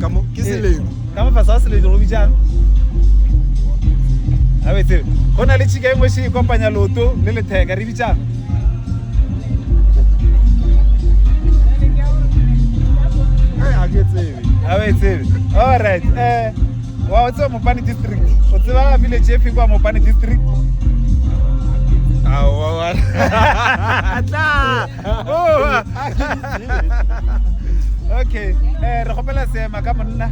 ka mo ke selemo ka mo fasa se le go bitšang a be tseo go na le tšhika e nngwe še e kopanya loto le letheka re bitšang a be tsebe all right eh wa o tseba mopane district o tseba village e fe kwa mopane district aowa tla okay eh re gopela seema ka monna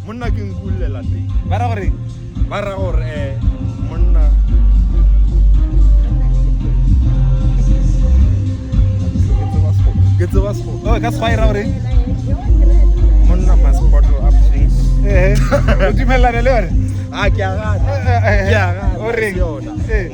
monna ke nkulela teng ba ra gore ba ra gore eh monna ke tseba sego oh ka sego e ra gore monna must bottle up things eh o dumelana le yone a ke a gana ke a gana o reng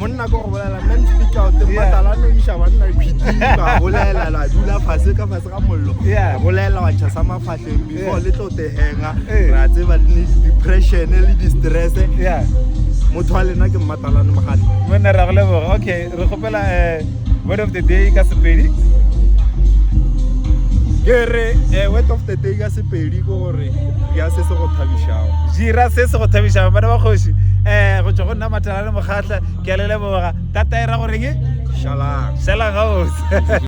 monna ko go bolela nna ntipitla o te mmatala no iša banna khwitima bolela la dula fase ka fase ga mollo bolela wa ntšha sa mafatlheng before le tlo tehenga ra tseba le depression le distress motho wa lena ke mmatalane mogatlho monna ra go leboga okay re kgopela eh, word of the day ka sepedi ke re eh, word of the day ka sepedi ke gore ya se se go thabišago jira se se go thabišago bana ba kgoši um go tswa go ya matala le mokgatla ke a le leboga ka taera goreng šalang gabotse